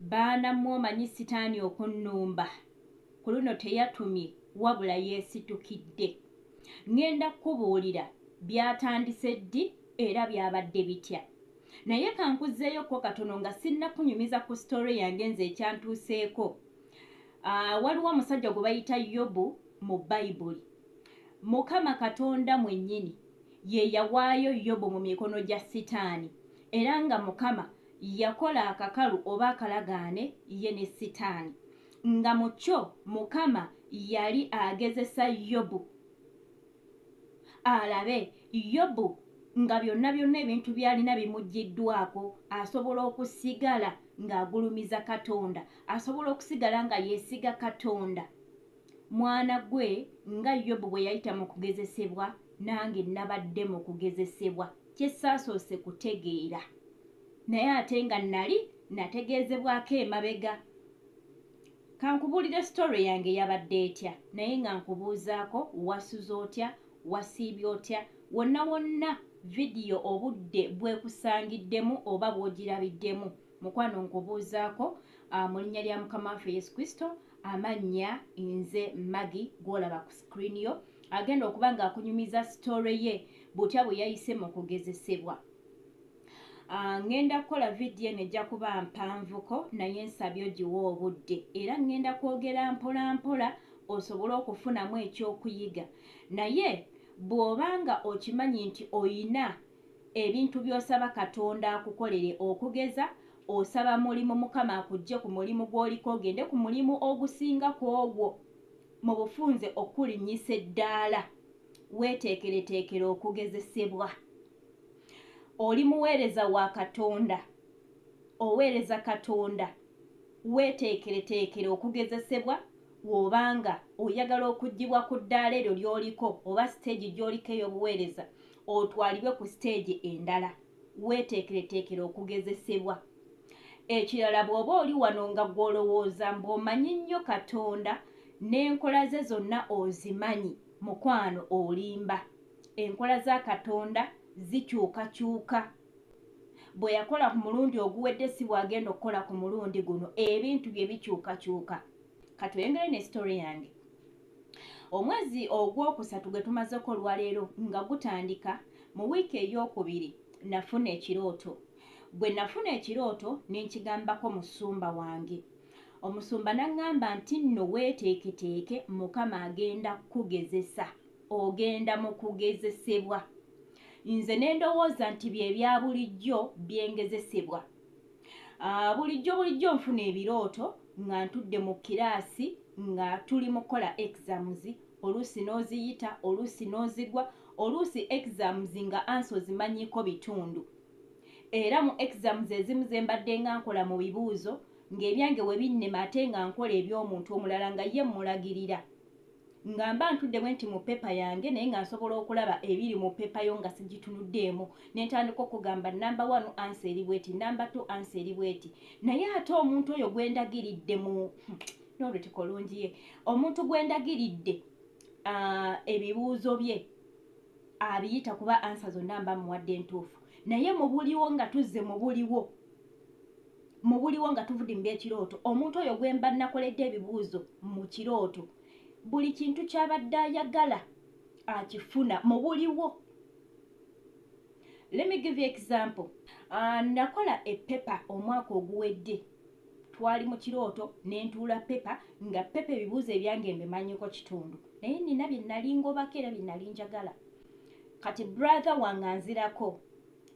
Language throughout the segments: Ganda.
Baana mmwe omanyi sitaani okunnumba ku luno teyatumye wabula yeesitukidde. Ŋŋenda kukubuulira byatandise ddi era byabadde bitya. Naye ka nkuzzeeyo ko katono nga sinnakunyumiza ku sitoore yange nze ekyantuuseeko. Aa, waliwo omusajja gwe bayita Yobu mu Bayibuli. Mukama Katonda mwennyini ye yawaayo Yobu mu mikono gya sitaani era nga Mukama yakola akakalu oba akalagaane ye ne Sitaani, nga mu kyo Mukama yali agezesa Yobu alabe Yobu nga byonna byonna ebintu by'alina bimuggyiddwako asobola okusigala ng'agulumiza Katonda, asobola okusigala nga yeesiga Katonda. Mwana gwe, nga Yobu bwe yayita mu kugezesebwa, nange nnabadde mu kugezesebwa, kye saasoose kutegeera, naye ate nga nnali nnategeezebwako emabega. Ka nkubuulire sitole yange yabadde etya, naye nga nkubuuzaako, wasuze otya? Wasiibye otya? Wonna wonna vidiyo obudde bw'ekusangiddemu oba bw'ogirabiddemu, Mukwano nkubuuzaako uh, mu linnya lya mukama waffe yesu kristo amannya nze magi gwolaba ku screen yo agenda okuba nga akunyumiza sitore ye butya bwe yayise mu kugezesebwa Ah, ŋŋenda kukola vidiyo eno ejja kuba mpanvuko naye nsabye ogiwa obudde era ŋŋenda kwogera mpola mpola osobole okufunamu ekyokuyiga naye bw'oba nga okimanyi nti oyina Ebintu by'osaba Katonda akukolere okugeza osaba mulimu Mukama akuggye ku mulimu gw'oliko ogende ku mulimu ogusinga ku ogwo mu bufunze okukulinnyisa eddaala. Weeteekereteekere okugezesebwa. Oli muweereza wa Katonda? Oweereza Katonda? Weeteekereteekere okugezesebwa Bw'oba nga oyagala okuggibwa ku ddaala eryo ly'oliko oba siteegi gy'oliko ey'obuweereza, otwalibwe ku siteegi endala weeteekereteekere okugezesebwa. Ekirala bw'oba oli wano nga gw'olowooza mbu omanyi nnyo Katonda n'enkola ze zonna ozimanyi, mukwano olimba. Enkola za Katonda zikyukakyuka. Bwe yakola ku mulundi oguwedde si bw'agenda okukola ku mulundi guno, ebintu bye bikyukakyuka. Ka tweyongere ne sitole yange. Omwezi ogw'okusatu gwe tumazeko olwaleero nga gutandika mu wiiki ey'okubiri nafuna ekirooto. Bwe nafuna ekirooto ne nkigambako musumba wange. Omusumba n'angamba nti nno weeteeketeeke Mukama agenda kukugezesa, ogenda mu kugezesebwa. Nze ne ndowooza nti bye bya bulijjo bye ngezesebwa. Ah, bulijjo bulijjo nfuna ebirooto nga ntudde mu kiraasi nga tuli mu kukola exams oluusi n'oziyita oluusi n'ozigwa oluusi exams nga ansi ozimanyiiko bitundu era mu exams ezimu ze mbadde nga nkola mu bibuuzo ng'ebyange we binnema ate nga nkola eby'omuntu omulala nga ye mmulagirira nga mba ntudde bwe nti mu pepa yange naye nga nsobola okulaba ebiri mu pepa yo nga sigitunuddeemu ne ntandika okugamba namba wanu ansa eri bweti namba t ansa eri bweti naye ate omuntu oyo gwe ndagiridde mu hmm, n'olutiko lungi ye omuntu gwe ndagiridde ah, ebibuuzo bye abiyita kuba ansa zonna mba muwadde entuufu naye mubuliwo nga tuzze mubuliwo mubuliwo nga tuvudde mu byekirooto omuntu oyo gwemba nakoledde ebibuuzo mu kirooto buli kintu kyabadde ayagala akifuna mubuliwo let me give you example uh, nakola epepa omwaka oguwedde twali mu kirooto nentuula pepa nga pepa ebibuuzo ebyange mbimanyiko kitundu naye nina byenalingobako era byenali njagala kati brother wange anzirako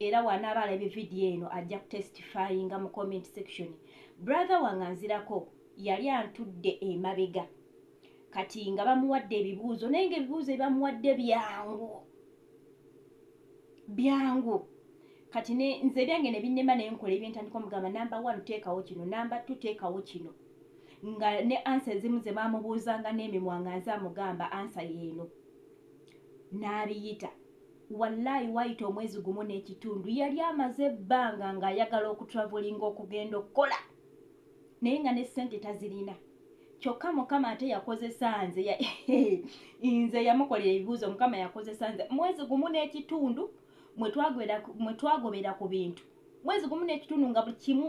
era wanaaba alabye vidiyo eno ajja kutestifyinga mu comment section brother wange anzirako yali antudde emabega kati nga bamuwadde ebibuuzo naye nga ebibuuzo ebamuwadde byangu byangu kati nze ebyange nebinema naye nkola ebyentandika omugamba namba one teekawo kino namba two teekawo kino nga ne ansa ezimu ze bamubuuzanga n'emimwa nga nze amugamba ansa yeeno n'abiyita Wallai wayita omwezi gumu n'ekitundu yali amaze ebbanga ng'ayagala okutravelinga okugenda okukola naye nga ne ssente tazirina kyokka mukama ate yakozesa nze nze yamukolera ebibuuzo mukama yakozesa nze mwezi gumu n'ekitundu mwe twagobera ku bintu mwezi gumu n'ekitundu nga buli kimu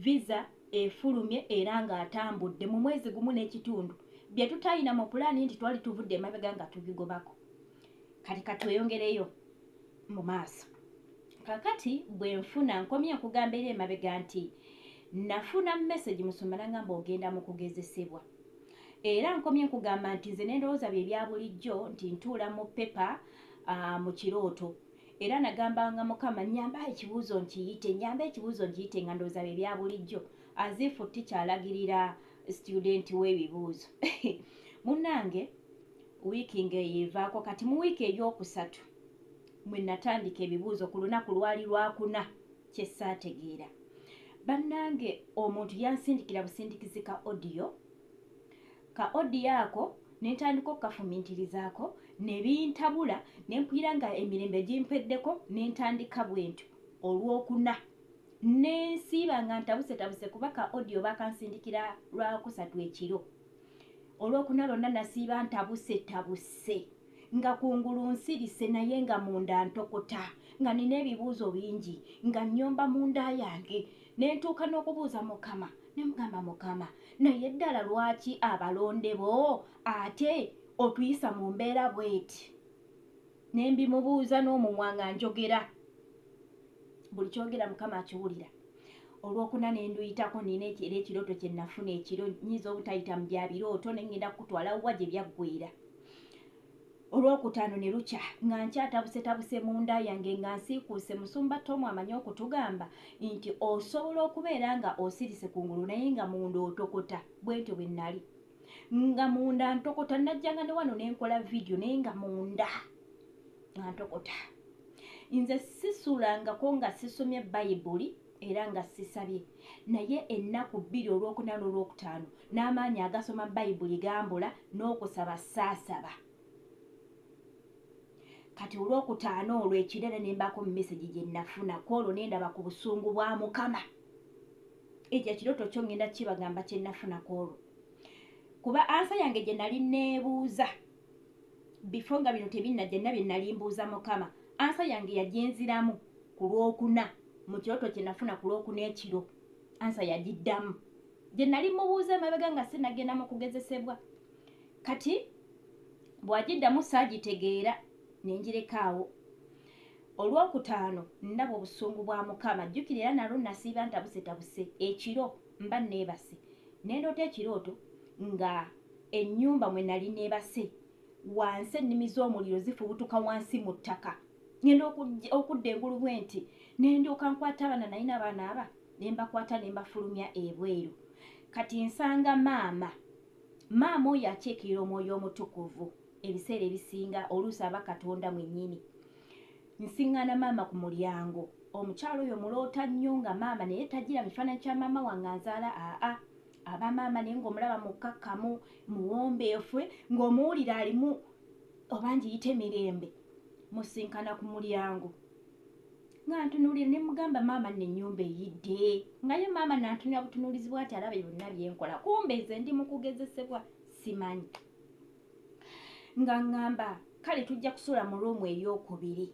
visa efulumye era ng'atambudde mu mwezi gumu n'ekitundu bye tutayina mu pulaani nti twali tuvudde emabega nga tubigobako kati katweyongereyo mu maaso kakati bwe nfuna nkomye nkugamba era emabega nti nafuna message musumba nangamba ogenda mu kugezesebwa era nkomye nkugamba nti nze nendowooza bye bya bulijjo nti ntuula mu pepa uh, mu kirooto era nagambanga mukama nyamba ekibuuzo nkiyite nyamba ekibuuzo nkiyite nga ndowooza bye bya bulijjo azifu tikyalagirira studenti w'ebibuuzo munange wiiki ng'eyivaako kati mu wiiki ey'okusatu mwe natandika ebibuuzo ku lunaku lwali lwakuna kye ssaategeera bannange omuntu yansindikira busindikizi ka odiyo ka odiyo ako ne ntandika okukafumintirizaako ne bintabula ne mpulira nga emirembe gimpeddeko ne ntandika bwentyo olwokuna nensiiba nga ntabusetabuse kuba ka odiyo bakansindikira lwakusatu ekiro olwokuna lwonna nasiiba ntabuse tabuse nga kungulu nsirise naye nga munda ntokota nga nina ebibuuzo bingi nga nyomba munda yange nentuuka n'okubuuza mukama nemugamba mukama naye ddala lwaki abalonde bo ate otuyisa mu mbeera bweti ne mbimubuuza n'omumwa nga njogera buli kyogera mukama akiwulira olwokuna ne nduyitako nina era ekirooto kye nafuna ekiro nyinza obutayita mu bya birooto ne ŋŋenda kukutwala wuwa gye byaggwera olwokutaano ne lukya nga nkyatabusetabuse mu nda yange nga nsiikuuse musumba tomu amanyi okutugamba nti osobola okubeera nga osirise ku ngulu naye nga munda otokota bwentyo bwe nnali nga munda ntokota najjanga ne wano nenkola vidiyo naye nga munda nga ntokota nze sisulangako nga sisomye bayibuli era nga sisabye naye ennaku bbiri olwokuna n'olwokutaano n'amaanyi agasoma bayibuli gambula n'okusaba saasaba kati olwokutaano olwo ekirere nembaako mumesegi gye nafuna ku olwo nendaba ku busungu bwa mukama ekyo ekirooto kyo ngenda kibagamba kyenafuna kwolwo kuba ansa yange gye nali neebuuza bifo nga bino tebinnajja nina bye nali mbuuza mukama ansa yange yagyenziramu ku lwokuna mu kirooto kye nafuna ku lwokuna ekiro ansa yagiddamu gye nali mubuuza emabega nga sinagenda mu kugezesebwa kati bw'agiddamu saagitegeera ne ngirekaawo Olwokutaano ndaba obusungu bwa Mukama. Jjukira era nalwo nnasiiba ntabusetabuse ekiro mba nneebase. Ne ndoota ekirooto nga ennyumba mwe nali neebase wansi ennimi z'omuliro zifubutuka wansi mu ttaka. Ngenda okudda engulu bwe nti ne ndyoka nkwata abaana nalina abaana aba ne mbakwata ne mbafulumya ebweru. Kati nsanga maama. Maama oyo akiikirira omwoyo omutukuvu. ebiseera ebisinga oluusi aba katonda mwennyini nsiŋŋaana maama ku mulyango omukyalo oyo muloota nnyo nga maama naye tajira mu kifaananyi kya maama wange anzaala aa aba maama naye ng'omulaba mukkakkamu muwombeefwe ng'omuwulira alimu oba ngiyite mirembe musinkana ku mulyango nga ntunuulira ne mugamba maama nno ennyumba eyidde nga ye maama nantunira butunuulizi bwati alaba byonna byenkola kumbe nze ndi mu kugezesebwa simanyi nga ŋŋamba kale tujja kusula mu ruumu ey'okubiri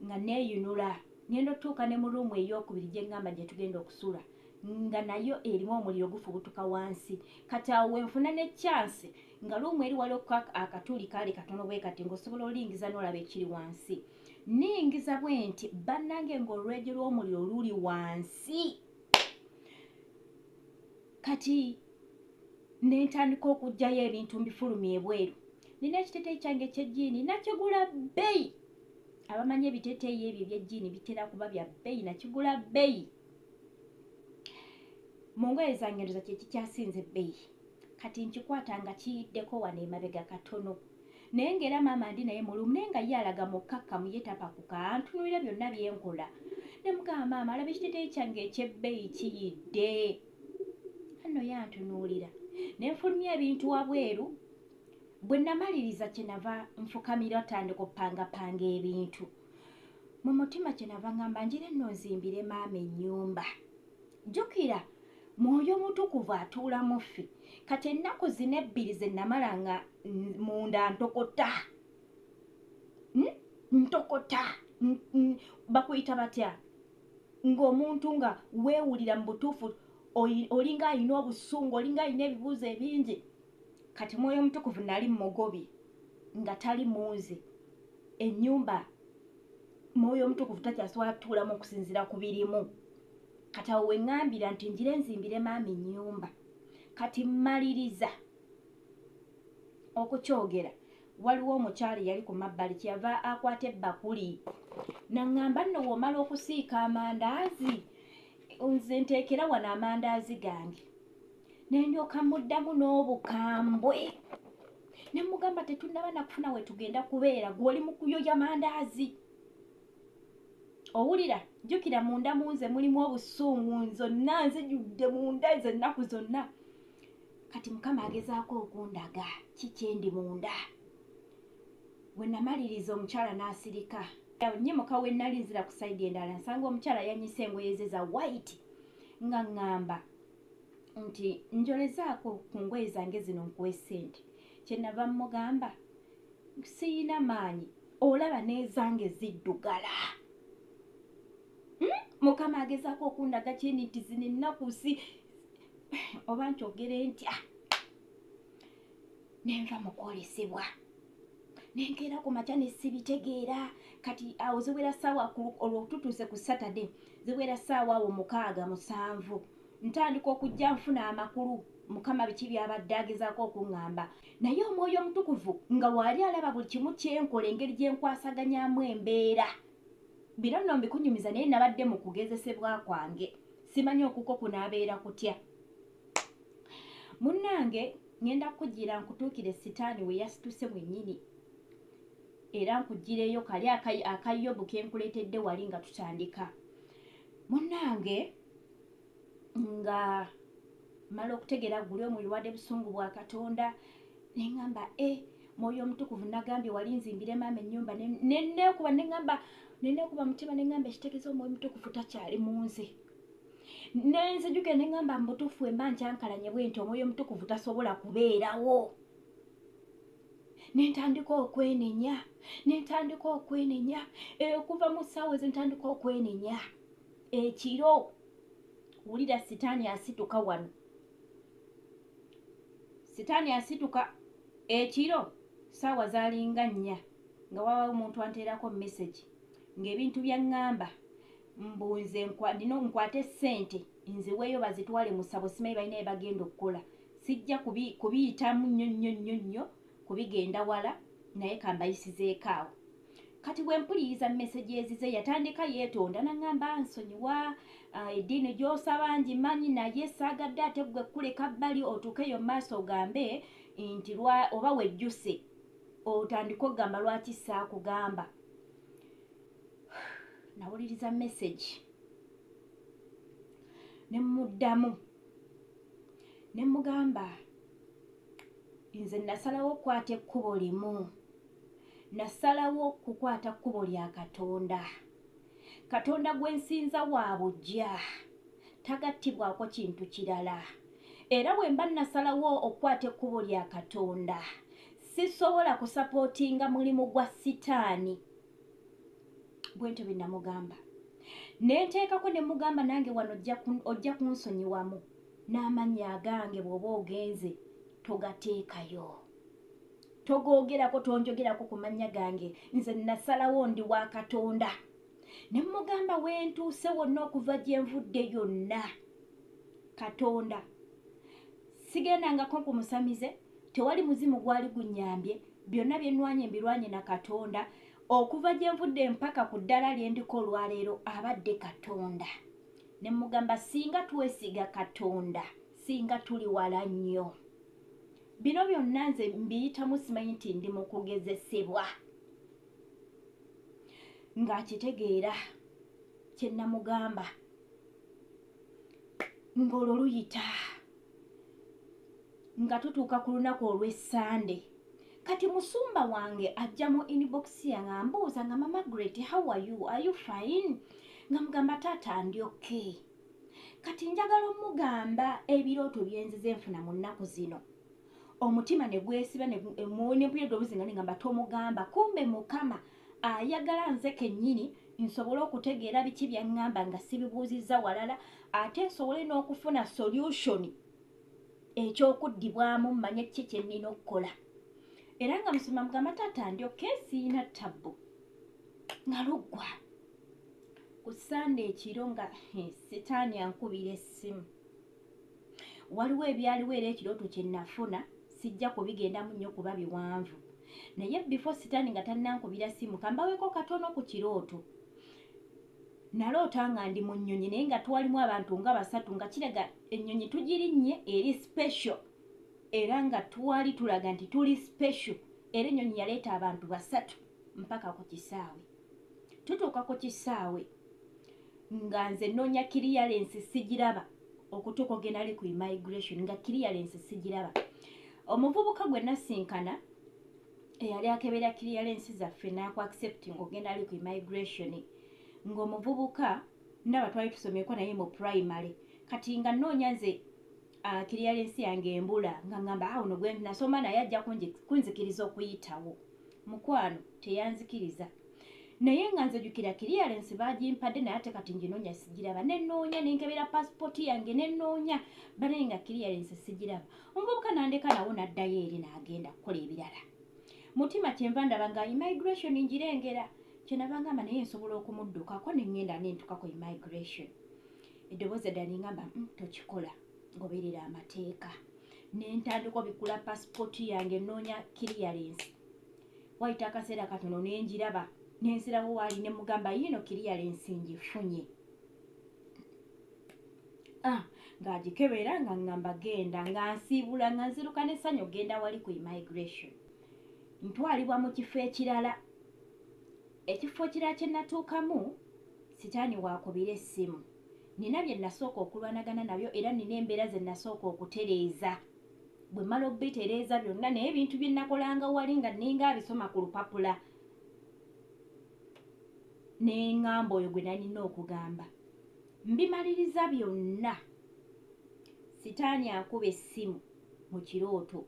nga neeyunula ngenda otutuuka ne mu ruumu ey'okubiri gye ŋŋamba gye tugenda okusula nga nayo erimu omuliro gufubutuka wansi kati awo wenfuna ne kyansi nga ruumu eri wali okuka akatuli kaali katono bwe kati ng'osobola olingiza n'olaba ekiri wansi ningiza bwe nti bannange ng'olwejo lw'omuliro luli wansi kati nentandika okugjayo ebintu mbifulumi ebweru nina ekiteteyi kyange ekyejiini nakigula bbeyi abamanyi ebiteteyi ebyo ebyejiini bitera kuba bya bbeyi nakigula bbeyi mu ngoye zange ndoza kyekikyasinze bbeyi kati nkikwata nga kiyiddeko wano emabega katono Naye nga era maama ndi naye mulumu naye nga ye alaga mukkakkamu ye tapakuka antunuulira byonna bye nkola. Ne mugamba maama alaba ekiteeteeyi kyange eky'ebbeeyi kiyidde. Anno ye antunuulira ne nfulumya ebintu wabweru. Bwe namaliriza kye nava nfukamira otandika opangapanga ebintu. Mu mutima kye nava ngamba njire nno nzimbire maama ennyumba. jjukira mwoyo mutukuvu atuula mu ffe kati ennaku zina ebbiri ze namala nga munda ntokota hmm? ntokota bakuyita batya ng'omuntu nga weewulira mu butuufu olinga alina obusungu olinga alina ebibuuzo ebingi kati mwoyo omutukuvu nali mugobi nga tali munze enyumba mwoyo omutukuvu takyasobola kutuulamu okusinziira ku birimu kati awo weŋŋambira nti njire nzimbire maama ennyumba kati mmaliriza okukyogera waliwo omukyali yali ku mabbali kyeyava akwata ebbakuli naŋŋamba nno woomala okusiika amandaazi nze nteekera wano amandaazi gange nendyoka muddamu n'obukambwe ne mugamba tetunnaba nakufuna we tugenda kubeera gwe oli mu kuyoya mandaazi owulira jjukira munda mu nze mulimu obusungu nzonna nzijudde munda ezo ennaku zonna kati mukama agezaako okundaga kikyendi munda we namaliriza omukyala n'asirika nyimuka we nali nzira ku saidi endala nsanga omukyala yanyisa engoye ze za waiti nga ŋŋamba nti njolezaako ku ngoye zange zino nkuwa essente kyenava mugamba siyina maanyi olaba n'ezange ziddugala hmm? mukama agezaako okundaga kyeni nti zino ennaku si oba nkyogere ntya nenva mukwolesebwa nenkeera ku makya ne sibitegeera kati awo ziwera saawa olwo tutuuse ku saturday ziwera saawa awo mukaaga musanvu ntandika okujja nfuna amakulu mukama biki byabadde agezaako okuŋŋamba naye omwoyo omutukuvu nga waali alaba buli kimu kyenkola engeri gye nkwasaganyamu embeera bino nno mbikunyumiza naye nabadde mu kugezesebwa kwange simanyi okuko kunaabeera kutya munnange ŋenda kukujjira nkutuukire sitaani we yasituse mwennyini era nkuggireyo kali akayobu ke nkuleetedde wali nga tutandika munnange nga mala okutegeera guli omuyuwadde busungu bwa katonda ne ŋamba e eh, mwoyo omutukuvu nagambye wali nzimbire maama ennyumba nenekuba neŋamba nenekuba mutima neŋamba ekitegeeza omwoyo omutukuvu takyali mu nze nenzijuke neŋamba mubutufu emba nkyankalanye bwenti omwoyo omutukuvu tasobola kubeerawo nentandika okwenenya nentandika okwenenya eh, okuva mu ssaawa ezo ntandika okwenenya ekiro wulira sitaani asituka wano sitaani asituka ekiro ssaawa zalinga nnya nga wawawo omuntu anteerako mesagi ng'ebintu byaŋŋamba mbu nze ndina nkwate ssente nziweeyo bazitwale mu ssabo simanyi balina bye bagenda okukola sijja kubiyitamu nnyo nnyo nnyo nnyo kubigenda wala naye kambayisizeeko awo kati bwe mpuliriza mesegi ezize yatandika yeetonda naŋamba nsonyiwa ah, eddiini gy'osaba ngimanyi naye saagadde ate ggwe kuleka bbali otuukeyo maaso ogambe nti oba wejjuse otandika okugamba lwaki saakugamba nawuliriza message ne muddamu ne mugamba nze nasalawo okukwata ekkubo limu nasalawo kukwata kkubo lya katonda katonda gwe nsinza wa bujja tagattibwako kintu kirala era bwe mba nasalawo okukwata ekkubo lya katonda sisobola kusapootinga mulimu gwa sitaani bwentyo bye namugamba ne nteekako ne mugamba nange wano ojja kunsonyiwamu n'amannya agange bw'oba ogenze togateekayo togoogerako tonjogerako ku mannya gange nze nasalawo ndi wa katonda ne mugamba wentuuse wonna okuva gye nvudde yonna katonda sigendangako ku musamize tewali muzimu gwali gunnyambye, byonna bye nnwanye mbirwanye na Katonda. Okuva gye nvudde mpaka ku ddaala lye ndiko olwaleero abadde Katonda. Ne mmugamba singa twesiga Katonda singa tuli wala nnyo. Bino byonna nze mbiyitamu simanyi nti ndi mu kugezesebwa. Ng'akitegeera kye nnamugamba. ng'olwo luyita nga tutuuka ku lunaku olw'essande kati musumba wange ajja mu inbox yange ambuuza nga mamagret how are you are you fine nga mugamba taata ndi okay kati njagala omugamba ebirooto byenzize enfuna mu nnaku zino omutima ne gwesiba nempuya edobuzingane ngamba tomugamba kumbe mukama ne ayagala nze kennyini nsobole okutegeera biki byaŋŋamba nga sibibuuzizza walala ate nsobole n'okufuna solusoni ekyokuddibwamu mmanye kiki kye nnina okukola era nga musoma mugamba taata ndyoka esiina tabbu nga luggwa ku sande ekiro nga eh, sitaani ankubira essimu waliwo ebyaliwo era ekirooto kye nafuna sijja kubigendamu nnyo kuba biwanvu naye bifo sitaani nga tannankubira simu kambaweko katono ku kirooto naloota nga ndi mu nnyonyi naye nga twalimu abantu nga basatu nga kiraga ennyonyi tugirinnye eri special era nga twali tulaga nti tuli special era ennyonyi yaleeta abantu basatu mpaka ku kisaawe tutuuka ku kisaawe nga nze nnoonya kiriyalensi sigiraba okutuuka ogendali ku immigration nga kiriyalensi sigiraba omuvubuka gwe nasinkana eyali akebera kiriyalensi zaffe naaku accepting ogendali ku immigration ng'omuvubuka ndaba twali tusomyeko naye mu primary kati nga nnoonya nze ah, kiriyalensi yange embula nga ngamba awuno ah, gwe nasoma naye ajja kunzikiriza okuyitawo mukwano teyanzikiriza naye nga nze jukira clearance bagimpade naye ate kati njinonya sigiraba nenoonya nenkebera passport yange nenoonya banaye nga clearance sigiraba omuvubuka nandeka nawo naddayo eri nagenda kukola ebirala mutima kyenva ndaba nga immigration njirengera kyenava ngamba naye nsobola okumuddukako nengenda nentukako immigration eddoboozi eddala nengamba mm, tokikola ngoberera amateeka nentandika obikula passport yange noonya clearance Wayita akaseera katono ne ngiraba ne nzirawo waali ne mugamba yiino kiriyalensi ngifunye ah, ng'agikebera nga ngamba genda nga nsiibula nga nziruka n'essanyu ogenda wali ku immigration ntwalibwa mu kifo ekirala ekifo kirala kye natuukamu sitaani waakubira essimu nina bye nasooka okulwanagana nabyo era nina embeera ze nasooka okutereeza bwe mmala okubitereeza byonna naye ebintu bye nnakolanga wali nga nninga abisoma ku lupapula ne ŋŋamba oyo gwe nalina okugamba mbimaliriza byonna sitaani akuba essimu mu kirooto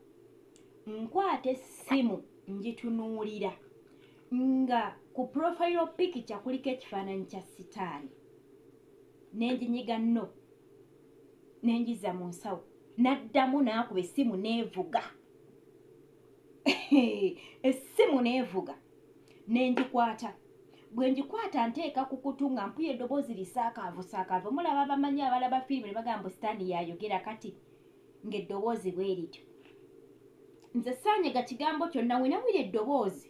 nkwata essimu ngitunuulira nga ku profile pikica kuliko ekifaananyi kya sitaani nenjinyiga no nenjiza mu nsawo naddamu naakuba essimu neevuga essimu neevuga nenjikwata bwe njikwata nteeka ku kutu nga mpuya eddoboozi lisaakaavu saakaavu mulaba bamanyi abalaba firimu ne bagamba mbu sitaani yayogera kati ng'eddoboozi bwe lityo nze saanyega kigambo kyonna wenawira eddoboozi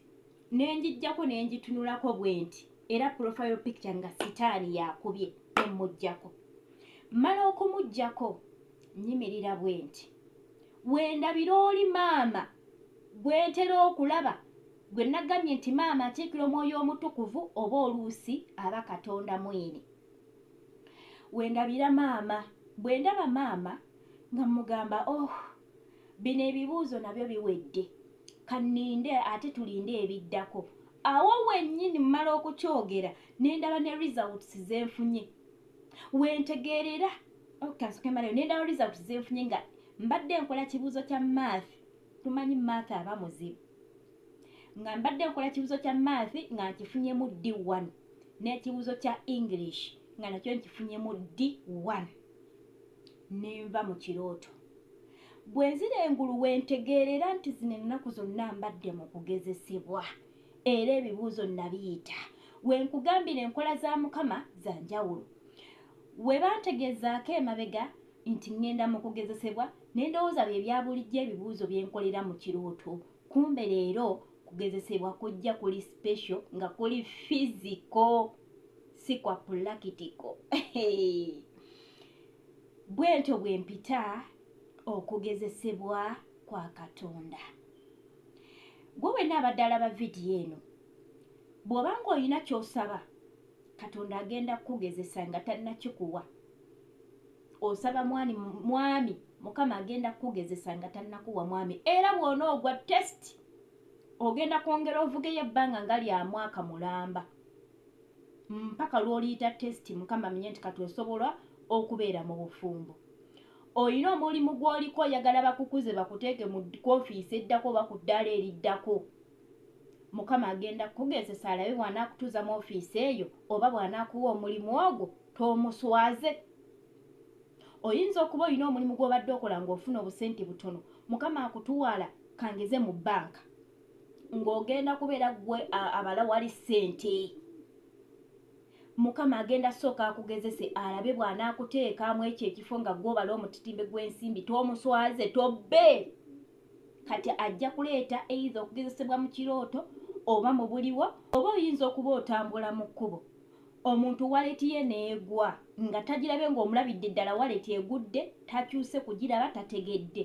nenjijjako nenjitunulako bwenti era profile picture nga sitaani yakubye emmujjako mmala okumujjako nyimirira bwenti wendabira oli maama gwentera okulaba gwe nagambye nti maama atiikira omwoyo omutukuvu oba oluusi aba katonda mwini wendabira maama bwendaba maama nga mugamba oh Bino ebibuuzo nabyo biwedde. Kanninde ate tulinde ebiddako. Awo wennyini mmala okukyogera ne ndaba ne results ze nfunye. We ntegeerera oh, kansoke malayo ne ndaba results ze nfunye nga mbadde nkola kibuuzo kya math tumanyi math aba muzibu nga mbadde nkola kibuuzo kya math nga nkifunyemu d1 n'ekibuuzo kya english nga nakyo nkifunyemu d1 ne nva mu kirooto. Bwe nzira engulu we ntegeerera nti zino ennaku zonna mbadde mu kugezesebwa era ebibuuzo nnabiyita. We nkugambira enkola za Mukama za njawulo. We bantegeezaako emabega nti ŋŋenda mu kugezesebwa ne ndowooza bye bya bulijjo ebibuuzo bye nkolera mu kirooto. Kumbe leero kugezesebwa kujja kuli sipesho nga kuli fiziko si kwa pulakitiko. Bwentyo bwe mpita okugezesebwa kwa Katonda. Gwe wenna abadde alaba vidiyo eno, bw'oba ng'olina ky'osaba, Katonda agenda kukugezesa nga tannakikuwa. Osaba mwani, mwami, Mukama agenda kukugezesa nga tannakuwa mwami. Era bw'onoogwa tesiti, ogenda kwongera ovugeyo ebbanga nga lya mwaka mulamba. mpaka lwoliyita test mukama amenye nti kati osobola okubeera mu bufumbo olina omulimu gwoliko oyagala bakukuze bakuteeke mu kofiisi eddako oba ku ddaala eriddako mukama agenda kukugezesa alabe bw'anaakutuuza mu ofiisi eyo oba bw'anaakuwa omulimu ogwo toomuswaze oyinza okuba olina omulimu gw'obadde okola ng'ofuna obusente butono mukama akutuwala kangeze mu bbanka ng'ogenda kubeera gwe abala wali ssente mukama agenda sooka akugezese alabe bw'anaakuteekaamu ekyo ekifo nga gwobala omutitimbe gw'ensimbi tomuswaze tobbe kati ajja kuleeta eitha okugezesebwa mu kirooto oba mu buliwo oba oyinza okuba otambula mu kkubo omuntu waleti ye neegwa nga tagirabe ng'omulabidde ddala waleti egudde takyuse kugiraba tategedde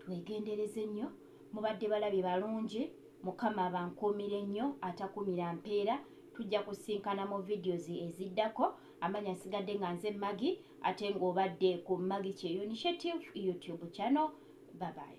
Twegendereze nnyo mubadde balabi balungi mukama abankuumire nnyo atakumira mpeera tujja kusinkana mu videos eziddako amanya nsigadde nga nze Maggie ate nga obadde ku Maggie Kyeyo Initiative YouTube channel bye bye.